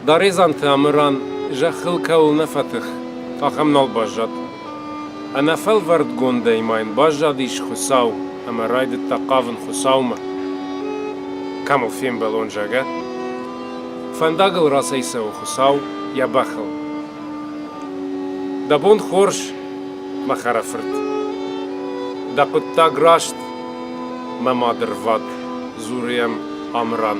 Даредзанты Амыран зӕххыл кӕуыл нӕ фӕтых, ахӕм нал баззад. Ӕнӕфӕлвӕрдгондӕй ма йын баззадис Хуыцау ӕмӕ райдыдта хъавын Хуыцаумӕ. Кӕм ыл фембӕлон, зӕгъӕ? Фӕндагыл рацӕйцӕуы Хуыцау йӕ бӕхыл. Дӕ бон хорз, мӕ хӕрӕфырт. Дӕ хъуыддаг раст, мӕ мадырвад, дзуры йӕм Амыран.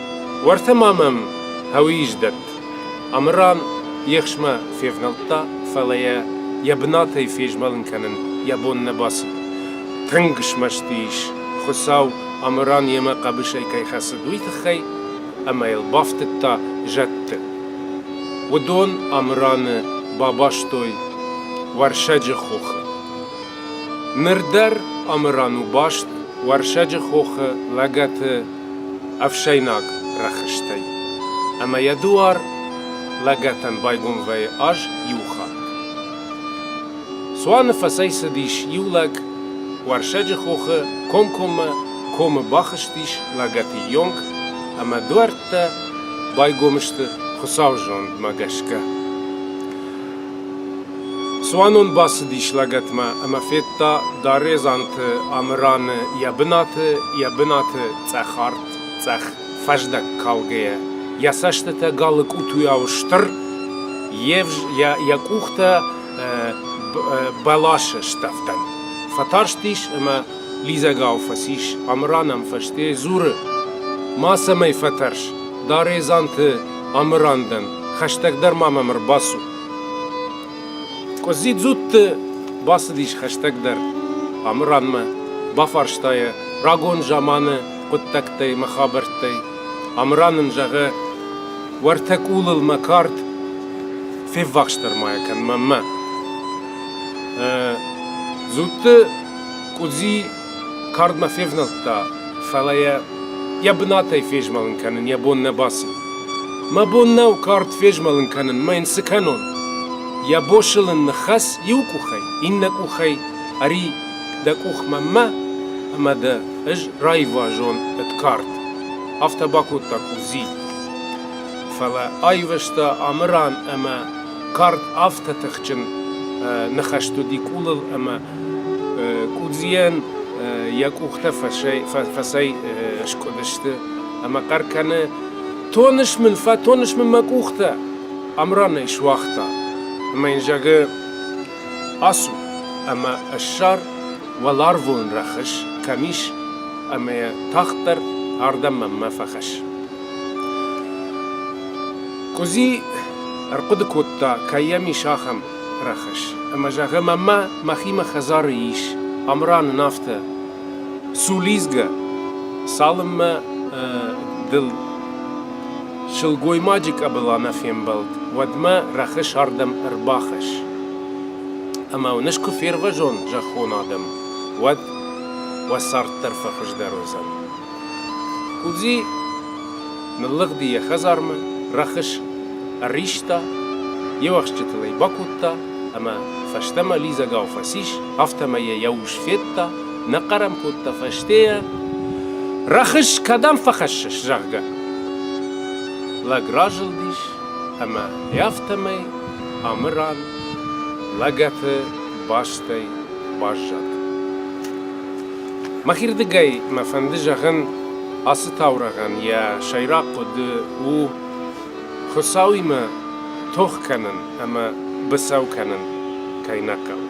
Уӕртӕ ма мӕм Һӕуыйыз дӕтт. Амыран ехсмӕ февнӕлдта, фӕлӕ йӕ йӕ бынатӕй фезмӕлын кӕнын йӕ бон нӕ бацыд. Тынг смӕсты ис, Хуыцау Амыран йемӕ хъӕбысӕй кӕй хӕцыд, уый тыххӕй, ӕмӕ йыл бафтыдта зӕдты. Уыдон Амыраны бабастой Уӕрсӕджы хохы. Ныр дӕр Амыран у баст Уӕрсӕджы хохы лӕгӕты ӕфсӕйнаг рӕхыстӕй, ӕмӕ йӕ дуар лӕгӕтӕн байгом вӕйы аз иу хатт. Цуаны фӕцӕйцыдис иу лӕг, Уӕрсӕджы хохы комкоммӕ комы бахызтис лӕгӕты йонг, ӕмӕ дуӕрттӕ байгом сты Хуыцауы зондмӕ гӕсгӕ. Цуанон бацыдис лӕгӕтмӕ ӕмӕ федта Даредзанты Амыраны йӕ бынаты, йӕ бынаты цъӕхарт-цъӕх фӕздӕг калгӕйӕ, йӕ цӕстытӕ галы къутуйау стыр, йӕ къухтӕ бӕласы стӕвдӕн. Фӕтарстис ӕмӕ лидзӕгау фӕцис. Амыран ӕм фӕстейӕ дзуры: «Мацӕмӕй фӕтӕрс, Даредзанты Амыран дӕн, хӕстӕгдӕр ма мӕм ӕрбацу. Къудзидзутты бацыдис хӕстӕгдӕр. Амыранмӕ бафарста йӕ рагон заманы хъуыддӕгтӕй мӕ хабӕрттӕй. Амыран ын зӕгъы, уӕртӕ къулыл мӕ кард феввахсдӕр ма йӕ кӕн мӕнмӕ. Зудты къудзи Кардмӕ февнӕлдта, фӕлӕ йӕ йӕ бынатӕй фезмӕлын кӕнын йӕ бон нӕ баци. Мӕ бон нӕу кард фезмӕлын кӕнын, мӕ йын цы кӕнон? Йӕ босылын ныххӕц иу къухӕй, иннӕ къухӕй ӕри дӕ къух мӕнмӕ ӕмӕ дӕ ӕз раивазон ӕд кард. Афтӕ бакодта къудзи. Фӕлӕ аивӕзта ӕмыран ӕмӕ Кард афтӕ тыхджын ныхӕст уыди къулыл ӕмӕ къудзийӕн йӕ къухтӕ фӕцӕй скъуыдысты ӕмӕ хъӕр кӕны, Тоныс мын, фӕтоныс мын мӕ къухтӕ! Амран ӕй суагъта ӕмӕ йын зӕгъы, Ацу ӕмӕ ссар, уӕларвон рӕхыс кӕм ис, ӕмӕ йӕ тагъддӕр ардӕм мӕнмӕ фӕхӕсс. Къуызи ӕрхъуыды кодта, кӕй йӕм ис ахӕм рӕхыс. Ӕмӕ зӕгъы маммӕ, мӕхимӕ хӕдзары ис. Амран ын афтӕ: Цу лидзгӕ, цалынмӕ дыл сылгоймаджы къӕбыла нӕ фембӕлд, уӕдмӕ рӕхыс ардӕм ӕрбахӕсс. Ӕмӕ уын ӕз куы фервӕзон зӕххон адӕм, уӕд уӕ цард дӕр фӕхуыздӕр уыдзӕн. Хъудзи ныллыгъди йӕ хӕдзармӕ, рӕхыс ӕриста, йе уӕхсчытыл ӕй бакодта ӕмӕ фӕстӕмӕ лидзӕгау фӕцис, афтӕмӕй йӕ йӕ ус федта, нӕ хъӕр ӕм кодта фӕстейӕ, рӕхыс кӕдӕм фӕхӕссыс, зӕгъгӕ. Лӕг разылдис ӕмӕ афтӕмӕй Амыран лӕгӕты бӕстӕй баззад. Мӕхирдыгӕй мӕ фӕнды зӕгъын, ацы таурӕгъӕн йӕ сӕйраг хъуыды у Хуыцауимӕ тох кӕнын ӕмӕ быцӕу кӕнын кӕй нӕ хъӕуы.